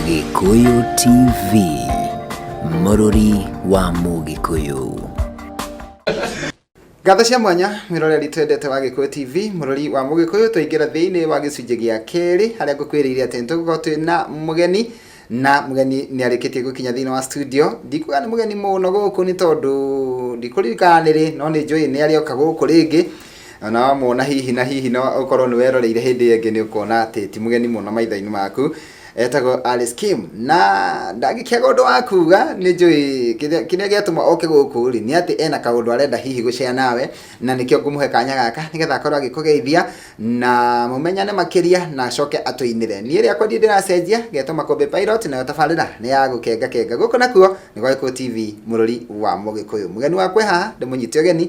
Gĩkũyũ TV, mũrũri wa Mũgĩkũyũ. Ngatho cia mwanya miroreri twendete wa Gĩkũyũ TV mũrori wa Mũgĩkũyũ tũingĩra thĩinĩ wa gĩcunjĩ gĩa kerĩ harĩa ngũkwĩrĩire atĩ nĩtũgũkorwo twĩ na mũgeni na mũgeni nĩ arĩkĩtie gũkinya thĩinĩ wa studio ndikuga nĩ mũgeni mũno gũkũ nĩ tondũ ndikũririkana nĩrĩ no nĩ njũĩ nĩ arĩoka gũkũ rĩngĩ Na na wamwona hihi na hihi no ũkorwo nĩ weroreire hĩndĩ ĩyo ĩngĩ nĩ ũkona atĩ ti mũgeni mũno maitho-inĩ maku etagwo Alice Kim na ndangĩkĩaga ũndũ wa kuga nĩ njũĩ kĩrĩa kĩrĩa gĩatũma oke gũkũ rĩ nĩ atĩ ena kaũndũ arenda hihi gũcea nawe na nĩkĩo ngũmũhe kanya gaka nĩgetha akorwo agĩkũgeithia na mũmenyane makĩria na acoke atũinĩre niĩ rĩakwa ndiĩ ndĩracenjia getwo makũmbĩ pilot nayo tabarĩra nĩ ya gũkenga kenga gũkũ nakuo nĩ gwa gĩkũ tv mũrũri wa mũgĩkũyũ mũgeni wakwa e haha ndĩmũnyite ũgeni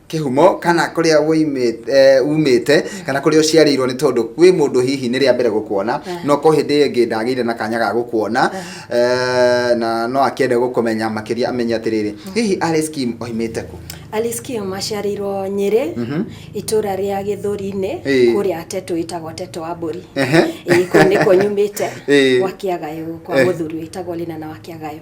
kĩhumo kana kũrĩa umĩte kana kũrĩa ũciarĩirwo nĩ tondũ kwĩ mũndũ hihi nĩ rĩa mbere gũkuona eh. no ko hĩndĩ ĩngĩ ndagĩire na kanya ga gũkuona eh. Eh, na no akĩende gũkũmenya makĩria amenye atĩrĩrĩ hmm. hihi Alice Kim oimĩte kũ Alice Kim aciarĩirwo Nyĩrĩ mhm. itũra rĩa Gĩthũri-inĩ kũrĩa Tetũ ĩtagwo Tetũ wa Mbũri kũu nĩkuo nyumĩte gwa Kĩagayo kwa mũthuri wĩtagwo Lina na wa Kĩagayo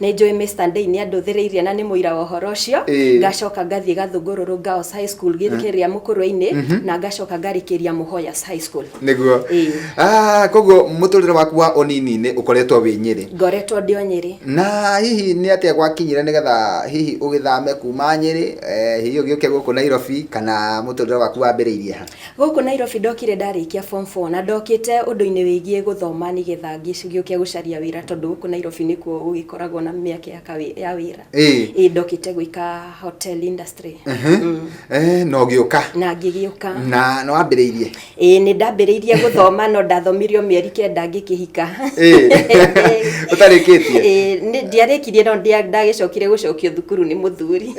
Nĩ njũĩ Mr. Ndei nĩ andũthĩrĩirie na nĩ mũira wa ũhoro ũcio. Ĩĩ. Ngacoka ngathiĩ Gathũngũrũrũ Girls High School gĩ- kĩrĩa Mũkũrwe-inĩ na ngacoka ngarĩkĩria Mũhoyas High School. nĩguo Ĩĩ. Ah, koguo mũtũrĩre waku wa ũnini-inĩ ũkoretwo wĩ nyĩrĩ Ngoretwo ndĩ o Nyĩrĩ. na hihi nĩ atĩa gwakinyire nĩgetha hihi ũgĩthame kuma nyĩrĩ eh, hihi ũgĩũke gũkũ nairobi kana mũtũrĩre waku wambĩrĩirie ha Gũkũ Nairobi ndokire ndarĩkia form four na ndokĩte ũndũ-inĩ wĩgiĩ gũthoma nĩgetha ngĩũke gũcaria wĩra tondũ gũkũ Nairobi nĩkuo gũgĩkoragwo na mĩeke ya kawĩ, ya wĩra. Ĩĩ. Ĩĩ ndokĩte gwĩka hotel industry. Ehe, na ũgĩũka. Na ngĩgĩũka. Na nĩ wambĩrĩirie? Ĩĩ nĩ ndambĩrĩirie gũthoma no ndathomirie o mĩeri kenda ngĩkĩhika. Ĩĩ. Ũtarĩkĩtie? Ĩĩ ndiarĩkirie no ndagĩcokire gũcokio thukuru nĩ mũthuri.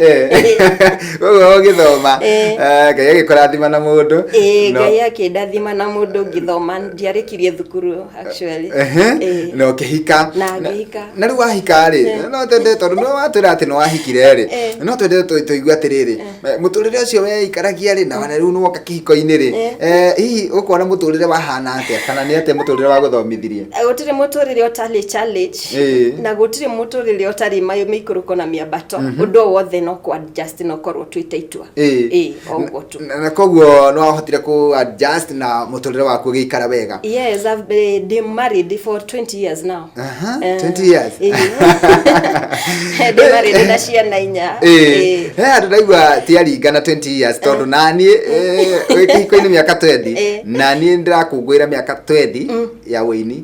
koguo ũgĩthoma Eh. eh, ngai agĩkũrathima na mũndũ Ĩĩ, No- ngai akĩndathima na mũndũ ngĩthoma ndiarĩkirie thukuru actually Ehe, Ĩĩ. na ũkĩhika Na ngĩhika. na rĩu wahika rĩ no twende tondũ nĩ watwĩra atĩ nĩ wahikire rĩ Eh. no twende tũ- tũigue atĩrĩrĩ mũtũrĩre ũcio weikaragia rĩ na wana rĩu nĩwoka kĩhiko-inĩ rĩ Eh. Eh, hihi ũkona mũtũrĩre wahana atĩa kana nĩ atĩa mũtũrĩre wa gũthomithirie gũtirĩ mũtũrĩre ũtarĩ challenge Ĩĩ. na gũtirĩ mũtũrĩre ũtarĩ mayũ mĩikũrũko na mĩambato ũndũ o wothe no kwa just no korwo twĩte itua Ĩĩ. Ĩĩ, o ũguo tu Na- na koguo no wahotire ku adjust na mũtũrĩre waku ũgĩikara wega yes I've been been married for 20 years now Aha, Eh, 20 years. ĩĩ. ndĩ marĩrĩ na ciana inya Ĩĩ. Ĩĩ. he andå ndaigua tiaringana 20 years tondå naniä wä kä hiko-inĩ mä aka 20 Ĩĩ. naniä ndä rakå ngwä ra mä aka 20 ya wä ini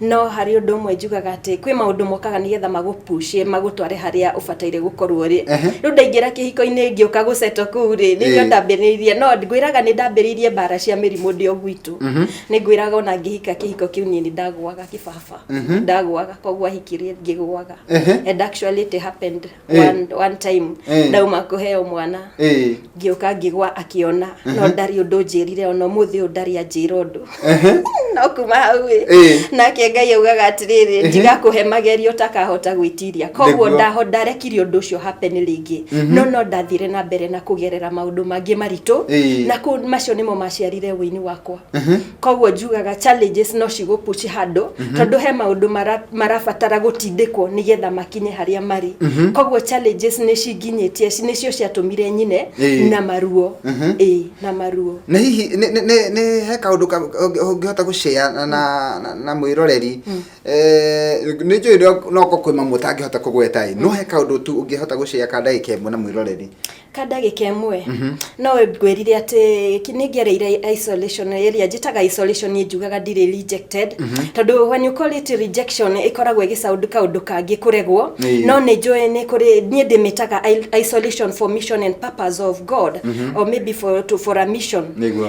No harĩ ũndũ ũmwe njugaga atĩ kwĩ maũndũ mokaga nĩgetha magũpushie magũtware harĩa ũbataire gũkorwo rĩ. Ehe. Rĩu ndaingĩra kĩhiko-inĩ ngĩũka gũceto kũu rĩ, nĩ iria Ĩĩ. ndambĩrĩirie. No ngwĩraga nĩ ndambĩrĩirie mbara cia mĩrimũ ndĩ o gwitũ. Nĩ ngwĩraga ona ngĩhika kĩhiko kĩu niĩ nĩ ndagũaga kĩbaba. Ndagũaga koguo ahikire ngĩgũaga. Ehe. And actually it happened. Eh. one, one time Eh. ndauma kũheo mwana Eh. ngĩũka ngĩgwa akĩona no ndarĩ ũndũ njĩrire ona ũmũthĩ ũyũ ndarĩ anjĩra ũndũ Ehe. no kuma hau ĩ Eh. nake ngai augaga atĩrĩrĩ ndigakũhe magerio ũtakahota gwĩtiria koguo Nĩguo. ndaho ndarekire ũndũ ũcio happen rĩngĩ no no ndathire na mbere na kũgerera maũndũ mangĩ maritũ Eh. na kũ- macio nĩmo maciarire wĩini wakwa koguo njugaga challenges no cigũpuci handũ mhm. tondũ he maũndũ marabatara gũtindĩkwo nĩgetha makinye harĩa marĩ mhm. koguo challenges nĩ cinginyĩtie nĩcio ciatũmire nyine na maruo mhm. ĩ na maruo na hihi nĩ he kaũndũ ũngĩhota gũcea na mwĩroreri mm. eh, nĩ njũĩ noko kwĩ mamwe ũtangĩhota kũgweta no he kaũndũ tu ũngĩhota gũcea ka ndagĩka ĩmwe na mwĩroreri ka ndagĩka ĩmwe no ngwĩrire atĩ ki- nĩngereire isolation ĩrĩa njĩtaga isolation niĩ njugaga ndirĩ rejected tondũ when you call it rejection ĩkoragwo ĩgĩcaũndũ kaũndũ kangĩ kũregwo Ĩĩ. no nĩ njũĩ nĩ kũrĩ niĩ ndĩmĩtaga i- isolation for mission and purpose of god or maybe for, to, for a mission nĩguo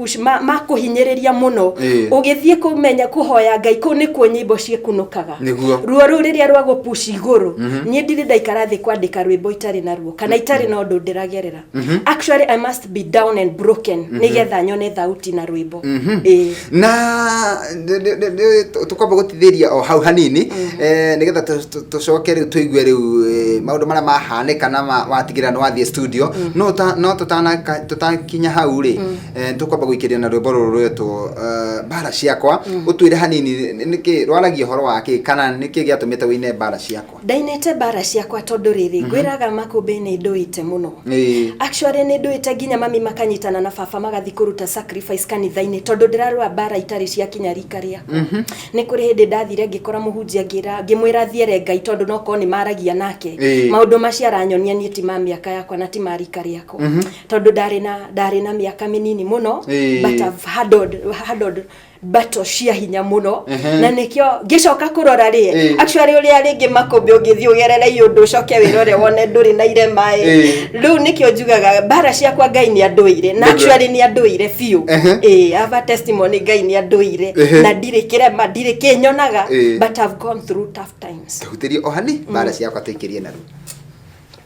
push ma, ma kũhinyĩrĩria mũno Ĩĩ. ũgĩthiĩ kũmenya kũhoya ngai kũu nĩkuo nyĩmbo ciĩkunũkaga Nĩguo. ruo rũu rĩrĩa rwa gũpushi igũrũ niĩ ndirĩ ndaikara thĩ kwandĩka rwĩmbo itarĩ na ruo kana itarĩ na ũndũ ndĩragerera actually i must be down and broken nĩgetha nyone thauti na rwĩmbo Ĩĩ. na nĩ- nĩ- nĩ- nĩ- tũ- tũkwamba gũtithĩria o hau hanini eh, nĩgetha tũ- tũ- tũcoke rĩu tũigue rĩu eh, maũndũ marĩa mahanĩka na ma- watigĩrĩra nĩ wathiĩ studio no ta- no tũtanaka- tũtakinya hau rĩ eh, tũkwamba gũikĩria na rwĩmbo rũrũ rwetwo eh, mbara ciakwa ũtwĩre hanini nĩkĩ rwaragia ũhoro wa kĩ kana nĩkĩ gĩatũmĩte wĩine mbara ciakwa ndainĩte mbara ciakwa tondũ rĩrĩ mhm. ngwĩraga makũmbĩ nĩ ndũĩte mũno actually nĩ ndũĩte nginya mami makanyitana na baba magathi kũruta sacrifice kanitha-inĩ tondũ ndĩrarũa mbara itarĩ cia kinya rika rĩakwa mhm. nĩ kũrĩ hĩndĩ ndathire ngĩkora mũhunjia ngĩra ngĩmwĩra thiere ngai tondũ no korwo nĩ maragia nake maũndũ macio aranyonia niĩ ti ma mĩaka yakwa na ti ma rika rĩakwa mhm. tondũ ndarĩ na ndarĩ na mĩaka mĩnini mũno but I've handled, handled mbato cia hinya mũno Ehe. na nĩkĩo ngĩcoka kũrora rĩ Eh. actually ũrĩa rĩngĩ makũmbĩ ũngĩthiĩ ũgerere iũndũ ũcoke wĩrore wone ndũrĩ na irema ĩ Eh. rĩu nĩkĩo njugaga mbara ciakwa ngai nĩ andũire na Nĩguo. actually nĩ andũire biũ Ehe. ĩ ava testimony ngai nĩ andũire Ehe. na ndirĩ kĩrema ndirĩ kĩnyonaga Eh. but I've gone through tough times tũhutĩrie o hani mbara ciakwa tũikĩrie naru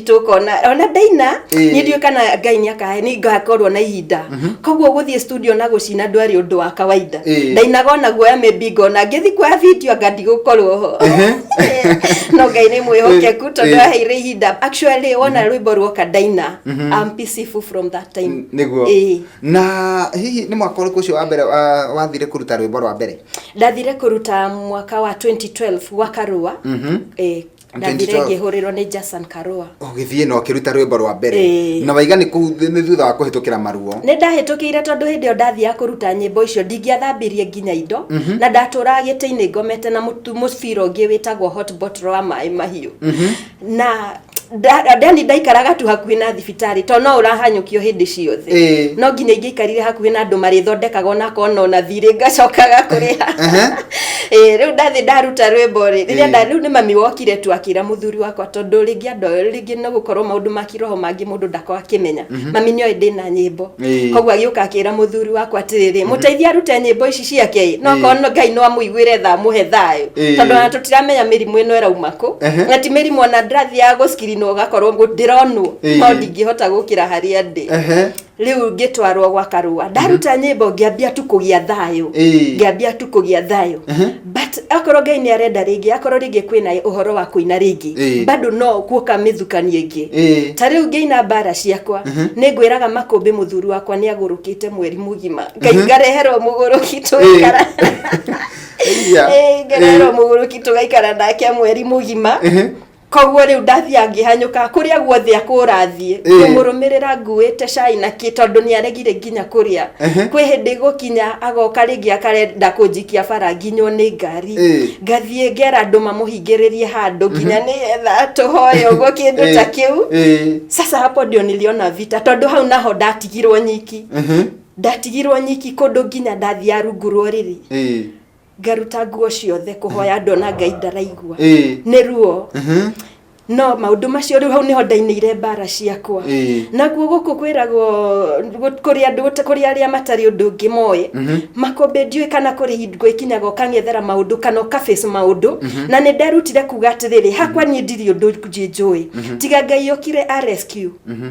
tũkona ona ndaina Ĩĩ. nĩ ndiũĩ kana ngai nĩ akahe nĩ ngakorwo na ihinda koguo gũthiĩ studio na gũcina ndwarĩ ũndũ wa kawaida Ĩĩ. ndainaga ona guoya maybe ngona ngĩthi kuoya video anga ndigũkorwo ho Ehe. no ngai nĩ mwĩhokeku Ĩĩ. tondũ Ĩĩ. aheire ihinda actually wona rwĩmbo ruoka ndaina I'm peaceful from that time niguo Ĩĩ. na hihi nĩ mwaka ũrĩkũ ũcio wa mbere wa- wathire kũruta rwĩmbo rwa mbere ndathire kũruta mwaka wa 2012 gwa karũa Mhm. eh, ndathire 2012. ngĩhũrĩrwo nĩ jason karua ũgĩthiĩ na ũkĩruta rwĩmbo rwa mbere Ĩĩ. na waiga nĩ kũu thĩ- nĩ thutha wa kũhĩtũkĩra maruo nĩ ndahĩtũkĩire tondũ hĩndĩ ĩyo ndathiaga kũruta nyĩmbo icio ndingĩathambirie nginya indo na ndatũraga gĩtĩ-inĩ ngomete na mũtu- mũbira ũngĩ wĩtagwo hot bottle wa maĩ mahiũ na nda- ndani ndaikaraga tu hakuhĩ na thibi thibitarĩ to no ũrahanyũkio hĩndĩ ciothe Ĩĩ. no nginya ingĩikarire hakuhĩ na andũ marĩthondekaga ona kona ona thirĩ ngacokaga kũrĩha Ehe. Ĩĩ, rĩu ndathĩ ndaruta rwĩmbo rĩ rĩrĩa Ĩĩ. nda rĩu nĩ mami wokire tu akĩra mũthuri wakwa tondũ rĩngĩ andũ ao rĩngĩ no gũkorwo maũndũ ma kĩroho mangĩ mũndũ ndako akĩmenya mami nĩoĩ ndĩ na nyĩmbo Ĩĩ. koguo agĩũka akĩra mũthuri wakwa atĩrĩrĩ mũteithia arute nyĩmbo ici ciake ĩ no Ĩĩ. korwo ngai no amũiguĩre tha amũhe thayũ Ĩĩ. tondũ ona tũtiramenya mĩrimũ ĩno ĩrauma kũ Ehe. na ti mĩrimũ ona ndĩrathiaga gũcika kiri na ũgakorwo ngũ- ndĩronwo Ĩĩ. no ndingĩhota gũkĩra harĩa ndĩ Ehe. rĩu ngĩtwarwo gwa karũa ndaruta nyĩmbo ngĩambia tu kũgĩa thayũ Ĩĩ. ngĩambia tu kũgĩa thayũ Ehe. but akorwo ngai nĩ arenda rĩngĩ akorwo rĩngĩ kwĩna ũhoro wa kũina rĩngĩ Ĩĩ. bado no kuoka mĩthukanie ĩngĩ Ĩĩ. ta rĩu ngĩina mbara ciakwa nĩ ngwĩraga makũmbĩ mũthuri wakwa nĩ agũrũkĩte mweri mũgima ngai ngareherwo mũgũrũki Ĩĩ. tũgaikara Iya. Ĩĩ, ngareherwo Ĩĩ. mũgũrũki tũgaikara nake mweri mũgima Ehe. koguo rĩu ndathiaga ngĩhanyũka kũrĩa guothe akũrathiĩ Ĩĩ. ngũmũrũmĩrĩra nguĩte cai na kĩ tondũ nĩ aregire nginya kũrĩa Ehe. kwĩ hĩndĩ gũkinya agoka rĩngĩ akarenda kũnjikia bara nginywo nĩ ngari Ĩĩ. ngathiĩ ngera andũ mamũhingĩrĩrie handũ nginya nĩgetha tũhoe ũguo kĩndũ ta kĩu Ĩĩ. sasa hapo ndio niliona vita tondũ hau naho ndatigirwo nyiki Ehe. ndatigirwo nyiki kũndũ nginya ndathiĩ rungu rwa ũrĩrĩ Ĩĩ. ngaruta nguo ciothe kũhoya ndona ngai ndaraigua Ĩĩ. nĩ ruo Mhm. no maũndũ macio rĩu hau nĩho ndainĩire mbara ciakwa Ĩĩ. naguo gũkũ kwĩragwo gũ- kũrĩ andũ gũta- kũrĩ arĩa matarĩ ũndũ ũngĩ moĩ Mhm. makũmbĩ ndiũĩ kana kũrĩ hingo ikinyaga ũkang'ethera maũndũ kana ũkabace maũndũ na nĩ nderutire kuga atĩrĩrĩ hakwa niĩ ndirĩ ũndũ njĩ njũĩ tiga ngai ũkire a rescue Mhm.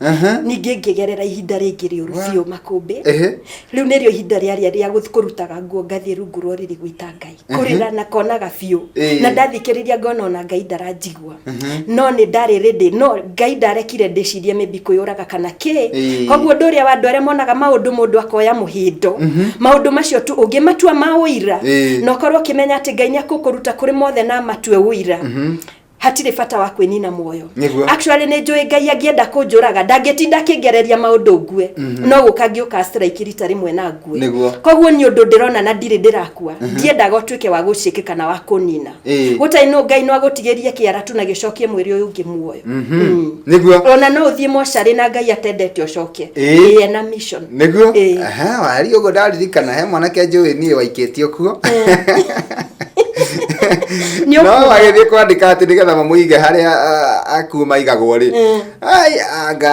Aha. ningĩ ngĩgerera ihinda rĩngĩ rĩũru Wa. biũ makũmbĩ Ehe. rĩu nĩrĩo ihinda rĩarĩa rĩa gũth- kũrutaga nguo ngathiĩ rungu rwa ũrĩrĩ gwĩta ngai kũrĩra na konaga biũ Ĩĩ. na ndathikĩrĩria ngona ona ngai ndaranjigua no nĩ ndarĩ rĩndĩ no ngai ndarekire ndĩcirie maybe kwĩyũraga kana kĩ Ĩĩ. koguo ũndũ ũrĩa wa andũ arĩa monaga maũndũ mũndũ akoya mũhĩndo maũndũ macio tu ũngĩmatua ma ũira Ĩĩ. na ũkorwo ũkĩmenya atĩ ngai nĩ akũkũruta kũrĩ mothe na amatue ũira hatirĩ bata wa kwĩnina muoyo Nĩguo. actually nĩ njũĩ ngai angĩenda kũnjũraga ndangĩtinda akĩngereria maũndũ ngue no gũka ngĩũka strike rita rĩmwe na ngue Nĩguo. koguo nĩ ũndũ ndĩrona na ndirĩ ndĩrakua ndiendaga ũtuĩke wa gũciĩke kana wa kũnina Ĩĩ. gũtarĩ no ngai no agũtigĩrie kĩara tu na gĩcokie mwĩrĩ ũyũ ũngĩ muoyo Mm. nĩguo ona no ũthiĩ mocarĩ na ngai atendete ũcoke Ĩĩ. Ĩĩ, ena mission nĩguo Ĩĩ. Aha, wari ũguo ndaririkana he mwanake njũĩ niĩ waikĩtio kuo Nĩ no ũkuga. agĩthiĩ kwandĩka atĩ nĩgetha mamũige harĩa ah, akuo maigagwo rĩ Mm. ai anga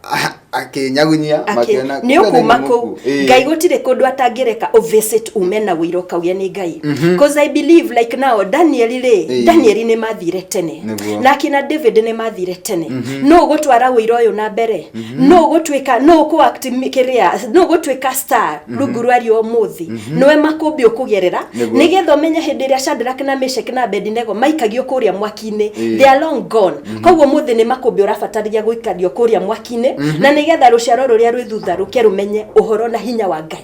ah, akĩnyagunyia Akĩ- makĩona nĩ kumbe ũkuma nĩ kũu mũkuũ. Ĩĩ. ngai gũtirĩ kũndũ atangĩreka ũvisit ume na wĩira ũkauge nĩ ngai bcause i believe like now danieli rĩ Ĩĩ. danieli nĩ mathire tene Nĩguo. na akina david nĩ mathire tene nũ ũgũtwara wĩira ũyũ na mbere no gutwika no ku act kiria no gutwika star rungu rwa rio muthi noe makumbi ukugerera Nĩguo. nigetha umenye hindi iria Shadrach na Meshach na Abednego maikagio kuria mwaki-ini Ĩĩ. they are long gone koguo muthi ni makumbi urabatarithia guikario kuria mwaki-ini na nigetha ruciaro ruria rwi thutha ruke rumenye uhoro na hinya wa Ngai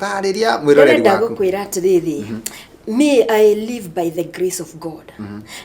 tarĩria mwĩroreri ndĩrenda waku gũkwĩra atĩrĩrĩ me i live by the grace of god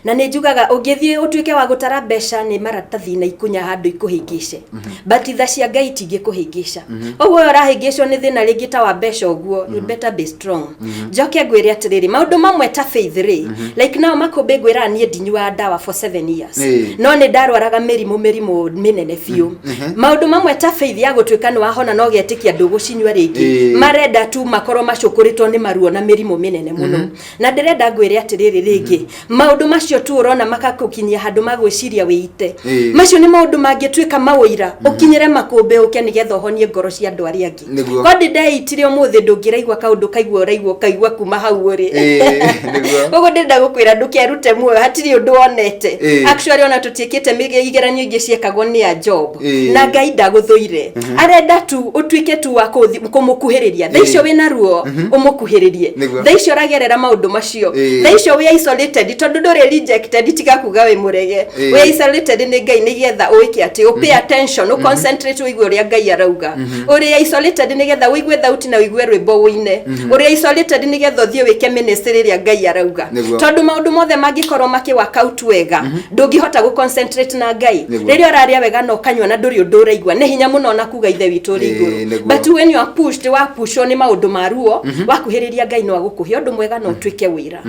na nĩ njugaga ũngĩthiĩ ũtuĩke wa gũtara mbeca nĩ maratathi na ikunya handũ ikũhĩngĩce but tha cia ngai itingĩkũhĩngĩca ũguo ũyũ ũrahĩngĩcwo nĩ thĩna rĩngĩ ta wa mbeca ũguo you better be strong njoke ngwĩre atĩrĩrĩ maũndũ mamwe ta faith rĩ like nao makũmbĩ ngwĩraga niĩ ndinyuaga ndawa for seven years Ĩĩ. no nĩ ndarwaraga mĩrimũ mĩrimũ mĩnene biũ maundu mamwe ta faith ya gutuika ni wahona no getikia ndugucinywa ringi Ĩĩ. marenda tu makorwo macukuritwo ni maruo na mirimu minene muno na ndirenda ngwire atiriri ringi maundu macio tu urona makakukinyia handu magwiciria wiite Ĩĩ. macio ni maundu mangituika mawira ukinyire makumbi uke nigetha uhonie ngoro cia andu aria angi Nĩguo. ko ndĩndeitire ũmũthĩ ndũngĩraigua kaũndũ kaigua ũraigua ũkaigua kuma hau ũrĩ Ĩĩ, nĩguo. koguo ndĩrenda gũkwĩra ndũkerute muoyo hatirĩ ũndũ wonete Ĩĩ. actually ona tũtiĩkĩte mĩge- igeranio ingĩ ciekagwo nĩ a job Ĩĩ. na ngai ndagũthũire arenda tu ũtuĩke tu wa kũthi- kũmũkuhĩrĩria tha icio Ĩĩ. wĩna ruo ũmũkuhĩrĩrie Nĩguo. tha icio ũragerera maũndũ macio ũcio Ĩĩ. tha icio wĩ isolated tondũ ndũrĩ rejected tiga kuga wĩ mũrege Ĩĩ. wĩ isolated nĩ ngai nĩ getha ũĩke atĩ ũ pay attention ũ concentrate ũigue ũrĩa ngai arauga ũrĩ isolated nĩ getha ũigue thauti na ũigue rwĩmbo ũine ũrĩ isolated nĩ getha ũthiĩ wĩke ministry ĩrĩa ngai arauga Nĩguo. tondũ maũndũ mothe mangĩkorwo makĩwaka out wega ndũngĩhota gũ concentrate na ngai Nĩguo. rĩrĩa ũrarĩa wega na ũkanyua na ndũrĩ ũndũ ũraigua nĩ hinya mũno na kuga ithe witũ ũrĩ Ĩĩ, igũrũ nĩguo. but when you are pushed wa pushwo nĩ maũndũ ma ruo wakuhĩrĩria ngai no agũkũhe ũndũ mwega na ũtuĩke wĩra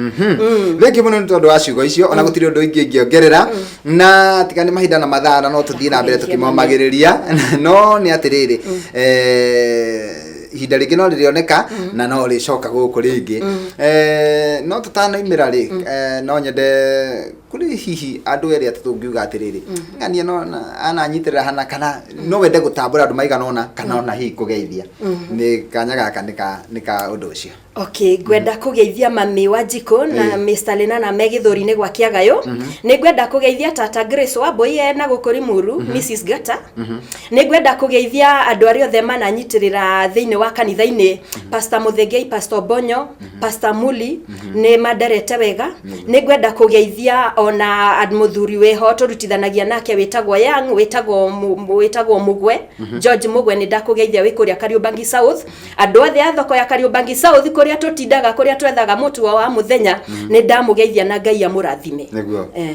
thengi mũno nĩ tondũ wa ciugo icio ona gũtirĩ ũndũ ingĩ ingĩongerera na tiga nĩ mahinda na mathaa na no tũthiĩ na mbere Tũgeithie tũkĩmomagĩrĩria no nĩ atĩrĩrĩ eh, ihinda rĩngĩ no rĩrĩoneka na no rĩcoka gũkũ rĩngĩ Eh, no tũtanaimĩra rĩ eh, no nyende kuri hihi andu eri ati tungiuga atiriri mm-hmm. ng'ania no ananyitirira hana kana no wende gutambura andu maigana ona kana ona hihi kugeithia mm-hmm. ni kanya gaka ni ka undu ucio okay ngwenda mm-hmm. kugeithia mami wa jiko na Mr Lenana me githuri-ini gwa kiagayo ni ngwenda kugeithia tata Grace wa boy e na gukuri muru Mrs Gata ni ngwenda kugeithia andu ari othe mananyitirira thiini wa kanitha-ini Pastor Muthengei Pastor Bonyo Pastor Muli nĩ manderete wega nĩ ngwenda kũgeithia ona ad- mũthuri wĩho tũrutithanagia nake wĩtagwo Young wĩtagwo Mu- Mu- wĩtagwo Mugwe George Mugwe nĩ ndakũgeithia wĩ kũrĩa Kariũmbangi South andũ othe a thoko ya Kariũmbangi South kũrĩa tũtindaga kũrĩa twethaga mũtu wa mũthenya nĩ ndamũgeithia na Ngai amũrathime nĩguo Eh.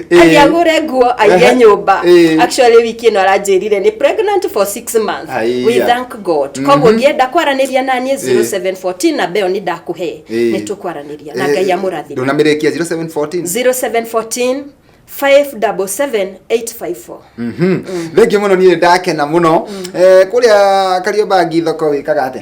Eh. Ai, agũre nguo aige Ehe. nyũmba Eh. actually wiki ĩno aranjĩrire nĩ pregnant for six months Aiya. we thank god koguo ngĩenda kwaranĩria naniĩ 0714 na mbeo nĩ ndakũhe Eh. nĩ tũkwaranĩria na ngai amũrathime ndũnamerekia 0714 0714 577 854 Mhm. thengiå må no niä ndakena må no kå rä a kariombangi thoko wä kaga atä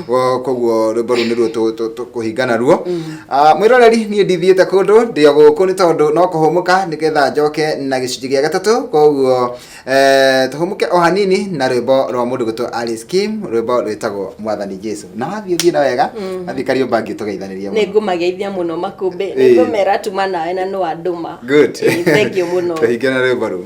Ko- koguo rwĩmbo rũu nĩruo tũ- tũ- tũkũhinga naruo Ah, mwĩroreri niĩ ndithiĩte kũndũ ndĩ o gũkũ nĩ tondũ no kũhũmũka nĩgetha njoke na gĩcunjĩ gĩa gatatũ koguo eh, tũhũmũke o hanini na rwĩmbo rwa mũndũ gwĩtwo Alice Kim rwĩmbo rwĩtagwo mwathani jesu na wathiĩ thiĩ na wega athiĩ kariũmba ngĩ tũgeithanĩria nä ngå mageithia må no makũmbä Ĩĩ. nä ngå mera tuma nawe na nä wandå ma Good. thengiå må no tũhinge na rwĩmbo rũu